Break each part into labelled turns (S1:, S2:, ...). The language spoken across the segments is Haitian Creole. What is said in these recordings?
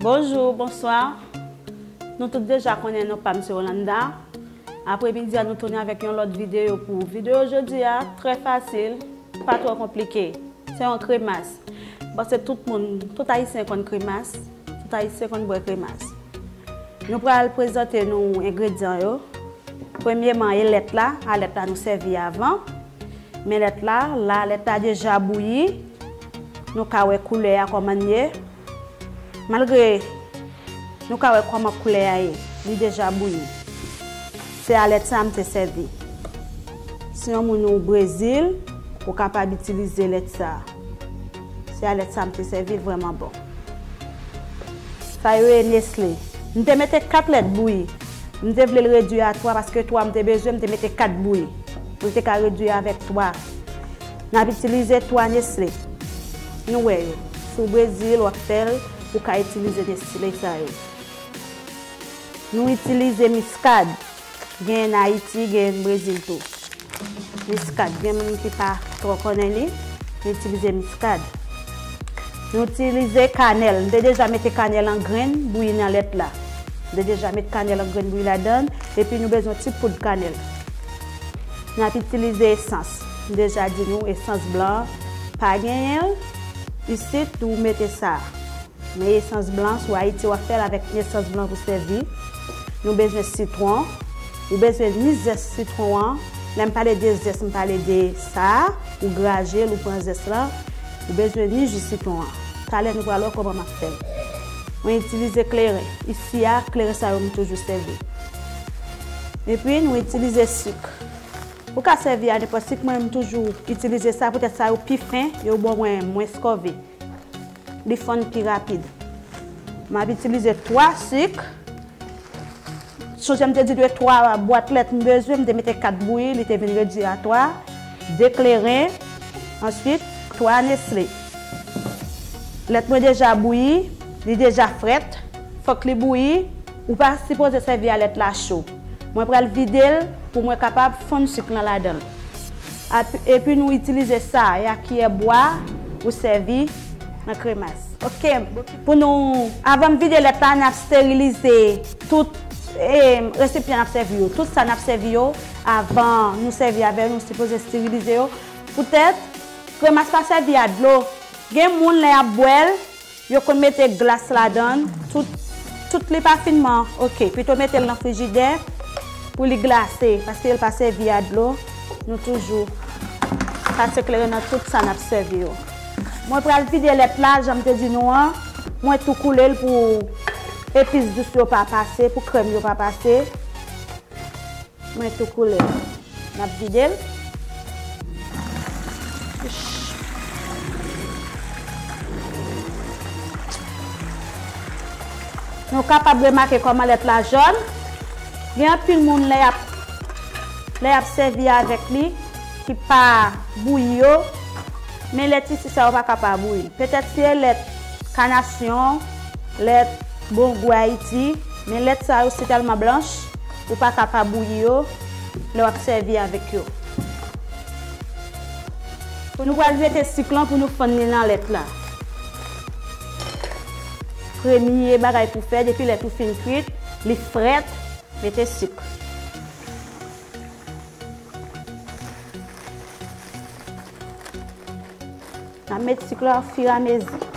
S1: Bonjour, bonsoir Nou tout deja konnen non pam se Rolanda Apre midi a nou tounen avèk yon lòt videyo pou ou Videyo jodi a trè fasil, pa twò konplike Se yon kremas Bon se tout moun, tout ayisyen konn kremas Tout Ayisyen konn bwè kremas. Nou pral prezante nou engredyan yo. Premyeman e lèt la, a lèt la nou sèvi avan. Men lèt la, la lèt la deja bouyi. Nou ka wè koulè a kòman l ye. Malgre nou ka wè kòman koulè a ye, li deja bouyi. Se a lèt sa m te sèvi. Si yon moun ou Brezil, ou kapab itilize lèt sa. Se a lèt sa m te sèvi, l vrèman bon. Sa yo ye Nestlé. M te mete 4 lèt bouyi. M te vle l redui a 3 paske 3 m te bezwen m te mete 4 bouyi. Pou l te ka redui avèk 3. N ap itilize 3 Nestlé. Nou wè yo. Si w Brezil w ap fè l ou ka itilize Nestlé sa yo. Nou itilize miskad. Genyen n Ayiti, genyen n Brezil tou. Miskad, gen moun ki pa twò konnen li, nou itilize miskad. Nou itilize kanèl, m te deja mete kanèl an grenn bouyi nan lèt la. M te deja met kanèl an grenn bouyi ladan l, epi nou bezwen ti poud kanèl. N ap itilize esans, m deja di nou esans blan an pa genyen l, isit ou mete sa a. Men esans blan sou ayiti wap fèl avèk esans blan pou sèvi, nou bezwen sitwon, ou bezwen ni zès sitwon an, lèm pale de zès m pale de sa ou grajel ou pran zès lan, ou bezwen ni ji sitwon an, talè nou pral wè kòman map fèl. Mwen itilize kleren, isi a kleren sa yo m toujou sèvi. Epi nou itilize sik, ou ka sèvi a nenpòt sik mwen m toujou itilize sa poutèt sa yo pi fen, yo bon mwen mwens kòve. li fonn pi rapid. M ap itilize 3 sik. Sonje m te di de 3 bwat lèt m bezwen, m te mete 4 bouyi, li te vin redui a 3. 2 kleren, answit 3 nesle. Lèt mwen deja bouyi, li deja frèt, fòk li bouyi, ou pa sipoze sèvi a lèt la cho. Mwen pral vide l pou mwen kapab fonn suk lan ladan l. Epi nou itilize sa a ya kiyè bwa ou sèvi nan kremas. Ok pou nou avan m vide lèt la n ap sterilize tout resipyan n ap sèvi yo. Tout sa n ap sèvi yo avan nou sèvi avè yo nou sipoze sterilize yo poutèt kremas pa sèvi a dlo. Gen moun lè y ap bwè l. Yo konn mete glas ladann tout tout li pa fin man ok pito metel nan frijidè pou li glase paske yo pa sèvi a dlo nou toujou pase kleren nan tout sa nap sèvi yo mwen pral vide lèt la janm te di nou an mwen tou koulel pou epis dous yo pa pase pou krèm yo pa pase. Mwen tou koule. Nap videl. Nou kapab remake koman lèt la jòn. Gen anpil moun lè yap lè yap sèvi avèk li ki pa bouyi yo. Men lèt isi sa yo pa ka pa bouyi. Petèt se lèt kanasyon, lèt bon gou Ayiti. Men lèt sa yo si tèlman blanch. Ou pa ka pa bouyi yo lè w ap sèvi avèk yo. Nou pral grate sik lan pou nou fann li nan lèt la. Premye bagay pou fè depi lèt ou fin kwit, li frèt, mete sik. N ap met sik la ofiramezi.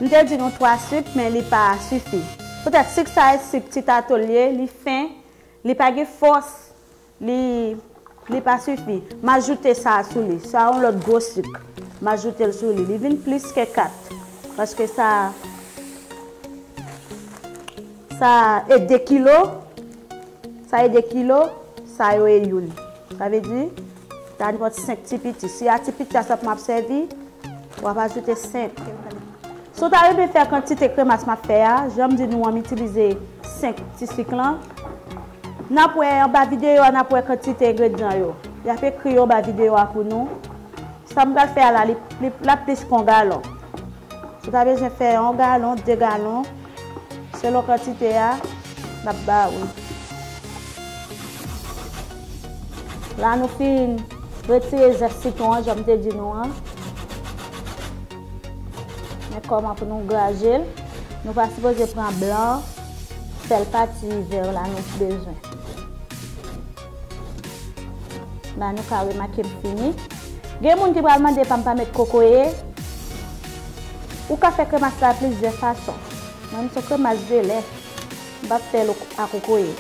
S1: M te di nou 3 suk men li pa sifi. Poutèt suk sa e suk ti tato l ye, li fen, li pa gen fòs, li li pa sifi. M ajoute sa sou li. Sa yon lòt gwo suk. M ajoute l sou li. Li vin plis ke 4. Paske sa sa e 2 kilo, sa e 2 kilo, sa yo e youn. Sa vle di, ta nwant 5 ti piti. Si a ti piti a sèp map sèvi, wap ajoute 5. Si w ta renmen fè kantite kremas map fè a, janm di nou an m itilize 5 ti sik lan. Nap wè anba videyo a nap wè kantite engredyan yo. Yap ekri yo anba videyo a pou nou. Sa m pral fè a la, lap plis ke yon galon. Ou ta bezwen fè yon galon, 2 galon. Selon kantite a, n ap ba ou. La nou fin retire zès sitwon an jan m te di nou an. Men kòman pou nou graje l. Nou pa sipoze pran blan an, sèl pati vè yo la nou bezwen. Ba nou ka remake m fini. Gen moun ki pral mande pa m pa met kokoye. Ou ka fè kremas la plizyè fason. Mwen m son kremas de lè. M pa p fè l a kokoye.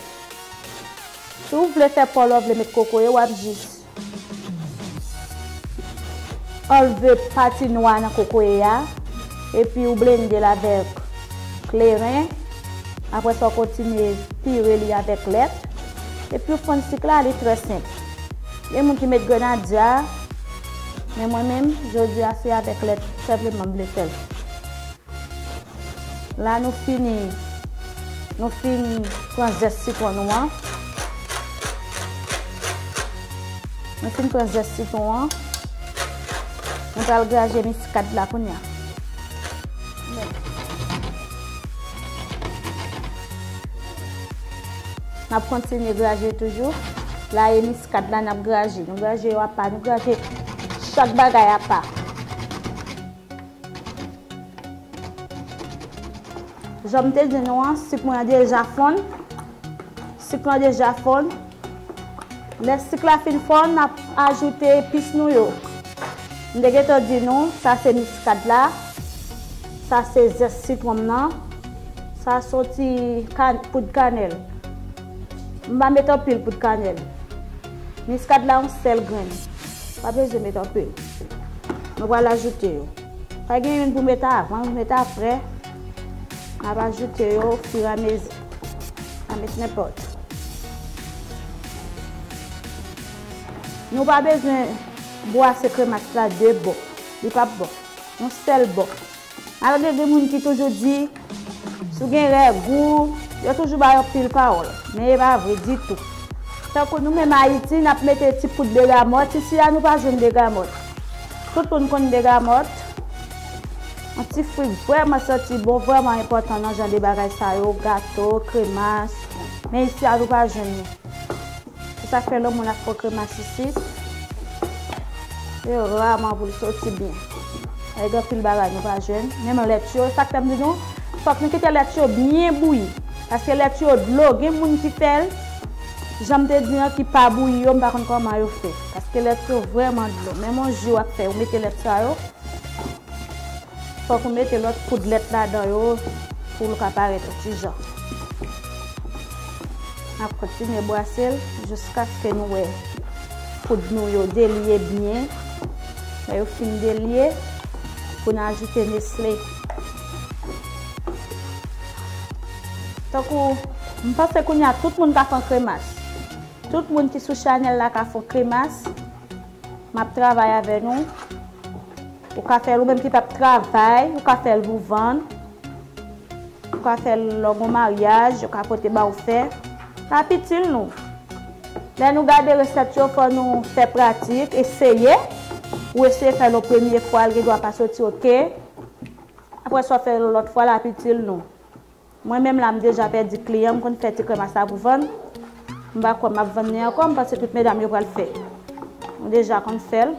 S1: Si w vle fè pa w la w vle met kokoye w ap jis anlve pati nwa nan kokoye a. epi ou blendel avèk kleren, aprè sa ou kontinye pire li avèk lèt, epi ou fonn sik la, li trè senp. Gen moun ki met grenadya, men mwen menm jodi a se avèk lèt senpleman m vle fèl. La nou fini, nou fin pran zès sitwon nou an, nou fin pran zès sitwon an. Mwen pral graje miskad la kounye a. N ap kontinye graje toujou. La e miskad la n ap graje. Nou graje yo apa. Nou graje chak bagay apa. Jan m te di nou an, sik mwen an deja fonn. Sik lan deja fonn. Lè sik la fin fon n ap ajoute epis nou yo. M te gentan di nou sa se miskad la, sa se zès sitwon m nan, sa son ti poud kanèl. M pa met anpil poud kanèl. Miskad la yon sèl grenn. M pa bezwen met anpil. Mwen pral ajoute yo. Sa gen youn pou mete avan, youn pou mete aprè. M ap ajoute yo ofiramezi. Amet nenpòt. Nou pa bezwen bwase kremas la 2 bò. Li pap bon. Yon sèl bò. Malgre gen moun ki toujou di, si w gen règ ou, yo toujou ba yo pil pawòl. Men e pa vre ditou. Tankou nou menm Ayiti, n ap mete ti poud begamòt. Isi a nou pa jwenn begamòt. Tout moun konn begamòt. Yon ti fwi k vrèman santi bon vrèman enpòtan nan jan de bagay sa yo, gato, kremas. Men isi a nou pa jwenn li. Se sa k fè lè moun ap fè kremas isi, se raman pou l soti byen. Paske gen anpil bagay nou pa jwenn. Menm lèt yo, se sa k fè m di nou, fòk nou kite lèt yo byen bouyi. Paske lèt yo dlo, gen moun ki fè l, jan m te di an, ki pa bouyi yo, m pa konn kòman yo fè. Paske lèt yo vrèman dlo. Menm yon ji w ap fè, ou mete lèt sa yo. Fòk ou mete lòt poud lèt ladan yo pou l ka parèt yon ti jan. N ap kontinye brase l jiskaske nou wè poud nou yo delye byen. Lè yo fin delye, pou n ajoute nesle. Tankou m panse kounye a tout moun ka fè yon kremas. Tout moun ki sou chanèl la ka fè yon kremas Map travay avè nou. Ou ka fèl ou menm ki pap travay, ou ka fèl pou vann. Ou ka fèl lò gon maryaj, yo ka pote ba ou fè. Sa ap itil nou. Lè nou gade resèt yo fò nou fè pratik, eseye. Ou eseye fèl yon premye fwa, li gen dwa pa soti ok. Aprè sa ou fèl yon lòt fwa, l ap itil nou. Mwen menm la m deja pèdi kliyan m konn fè ti kremas la pou vann m pa kwè map vann li ankò m panse tout medam yo pral fè m deja konn fèl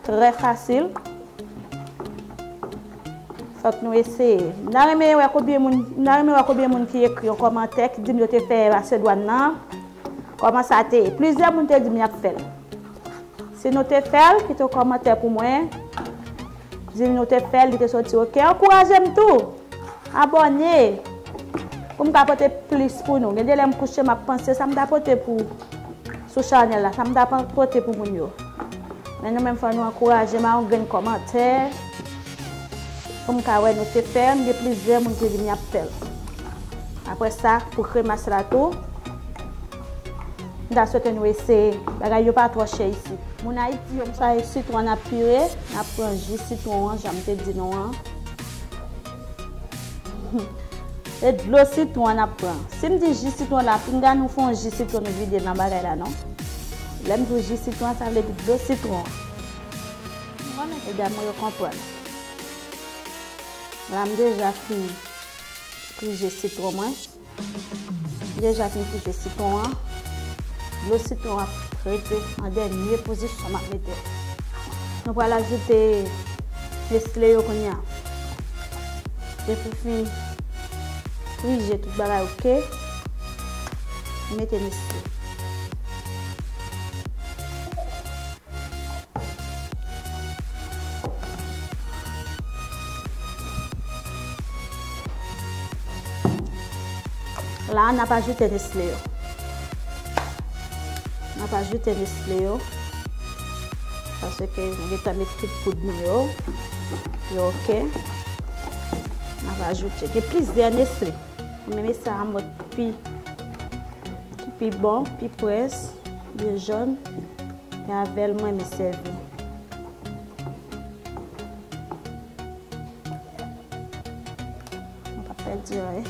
S1: trè fasil fòk nou eseye m ta renmen wè konbyen moun m ta renmen wè konbyen moun ki ekri yon kòmantè ki dim yo te fè masedwàn nan kòman sa te ye plizyè moun te dim yap fèl si nou te fèl kite yon kòmantè pou mwen. Dim nou te fèl li te soti ok ankourajem tou abòne poum ka pote plis pou nou gen de lè m kouche map panse sam ta pote pou sou chanèl la sam ta pote pou moun yo men nou menm fò nou ankourajem a yon grenn kòmantè poum ka wè nou te fèl gen plizyè moun ki vini ap fèl aprè sa pou kremas la tou. M ta swete nou eseye. Bagay yo pa twò chè isit. Moun Ayiti yo m swete sitwon nap pire, nap pran ji sitwon an janm te di nou an. Se dlo sitwon an nap pran. Sim di ji sitwon la pinga nou fon ji sitwon nou vide nan bagay la non. Lèm di w ji sitwon sa vle di dlo sitwon an. Medam mwen yo konprann. La m deja fini pran ji sitwon mwen. Deja fin kite sitron an. Dlo sitron an ap rete an dènye pozisyon m ap mete. Nou pral ajoute nesle yo kounya. Depi w fin frije tout bagay ok, mete nesle. La nap ajoute nesle yo. Nap ajoute nesle yo. Pase ke nou geta met tout poud nou yo. Yo ok. Nap ajoute. Gen plis de nesle. Mwen mele sa a mòd pi pi bon, pi près, li jòn. E avè l mwen renmen sèvi. Mwen pa fè di anyen.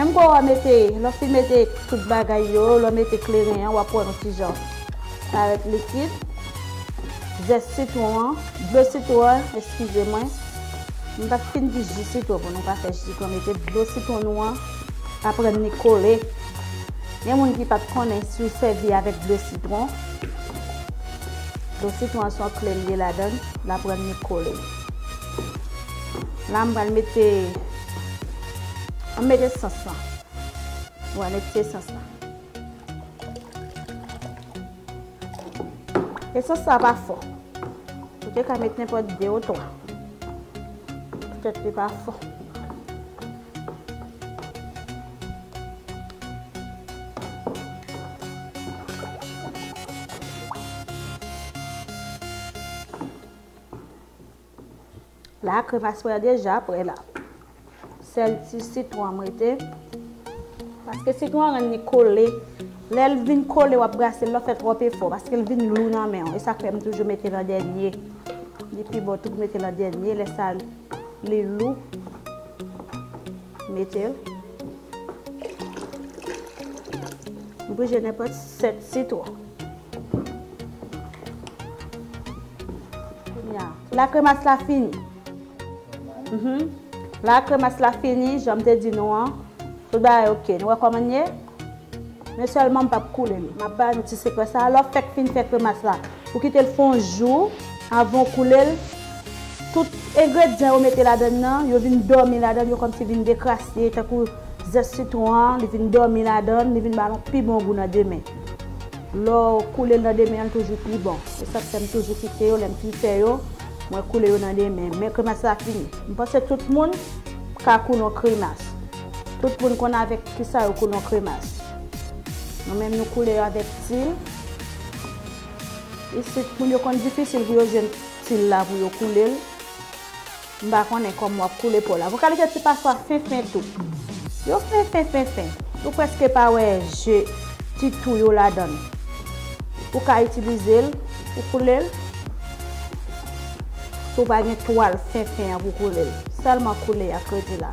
S1: Menm kou wap mete, lè w fin mete tout bagay yo, lè w mete kleren an, wap wè yon ti jan parèt likid. Zès sitwon an, dlo sitwon an, eskize mwen. M pat fin di ji sitwon pou nou pa fè ji, mete dlo sitwon nou an. Aprann ni kole. Gen moun ki pat konnen si w sèvi avèk dlo sitwon. Dlo sitwon an son kle li ye ladan l. L aprann ni kole. La m pral mete an m mete sans lan. M pral mete sans lan. Esans sa pa fò. Ou te ka mete nenpòt 2 ou 3. Petèt li pa fò. La a kremas mwen an deja prè la. Sèl ti sitwon an m rete. Paske sitwon an rann li kole. Lè l vin kole w ap brase l lè w fè twòp efò. Paske l vin lou nan men w. E sa k fè m toujou mete l an dènye. Li pi bon tou pou mete l an dènye lè sa. Li lou. Mete l. M prije nenpòt 7 sitwon. La kremas la fini. La kremas la fini, jan m te di nou an. Tout bagay ok. Nou wè kòman l ye? Men sèlman m pap koule l. M ap bay nou ti sekrè sa a, lè w fèk fin fè kremas la, ou kite l fè yon jou avan w koule l, tout engredyan yo mete ladann nan, yo vin dòmi ladann, yo kòmsi vin dekrase tankou zès sitwon an, li vin dòmi ladann, li vin ba l yon pi bon gou nan demen. Lè w koule l nan demen an l toujou pi bon. Se sa k fè m toujou kite yo, lè m fin fè yo, mwen koule yo nan demen. Men kremas la fini. M panse tout moun ka koule yon kremas. Tout moun konn avèk kisa yo koule yon kremas. Nou menm nou koule yo avèk til. Isit moun yo konn difisil pou yo jwenn til la pou yo koule l. M pa konnen kòman w ap koule pa w la. Pou kalite ti pafwa fen fen tou. Yo fen fen fen fen. Ou prèske pa wè je ti tou yo ladan l. Ou ka itilize l pou koule l. Si w pa gen twal fen fen an pou koule l. Sèlman koule ak kredi la.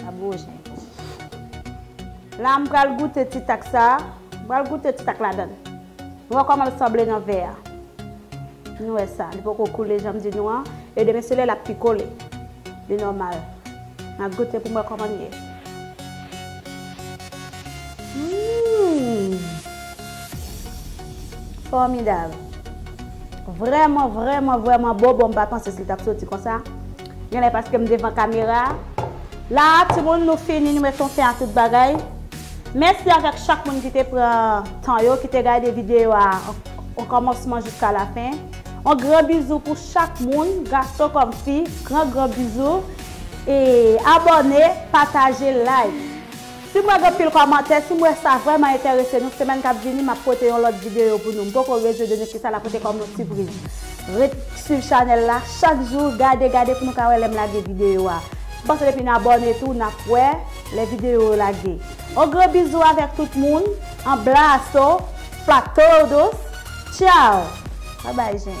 S1: Sa gwo jen. La m pral goute ti tak sa. M pral goute ti tak ladan l. Nou wè kòman l sanble nan vè a. Nou wè sa. Li poko koule jan m di nou an. E demen sele l ap pi kole. Li nòmal. M ap goute pou m wè kòman l ye. Hum! Fòmidab. Vrèman, vrèman, vrèman bon. Bon m pa panse si l t ap soti konsa. Genlè paske m devan kamera a. La a timoun nou fini nou met yon fen a tout bagay. Mèsi avèk chak moun ki te pran tan yo ki te gade videyo a an kòmansman jiska lafen. Yon gran bizou pou chak moun, gason kòm fi, gran gran bizou e abòne, pataje, like. Sim wè gen pil kòmantè, sim wè sa vrèman entèrese nou, semèn kap vini map pote yon lòt videyo pou nou. M poko rezo de nou kisa la pote kòm yon sipriz. Ret swiv chanèl la, chak jou gade gade pou nou ka wè lèm lage videyo a. M panse depi n abòne tou nap wè lè videyo yo lage. On gran bizou avèk tout moun, anblaso pa todos, tchao! Bye bye jèn.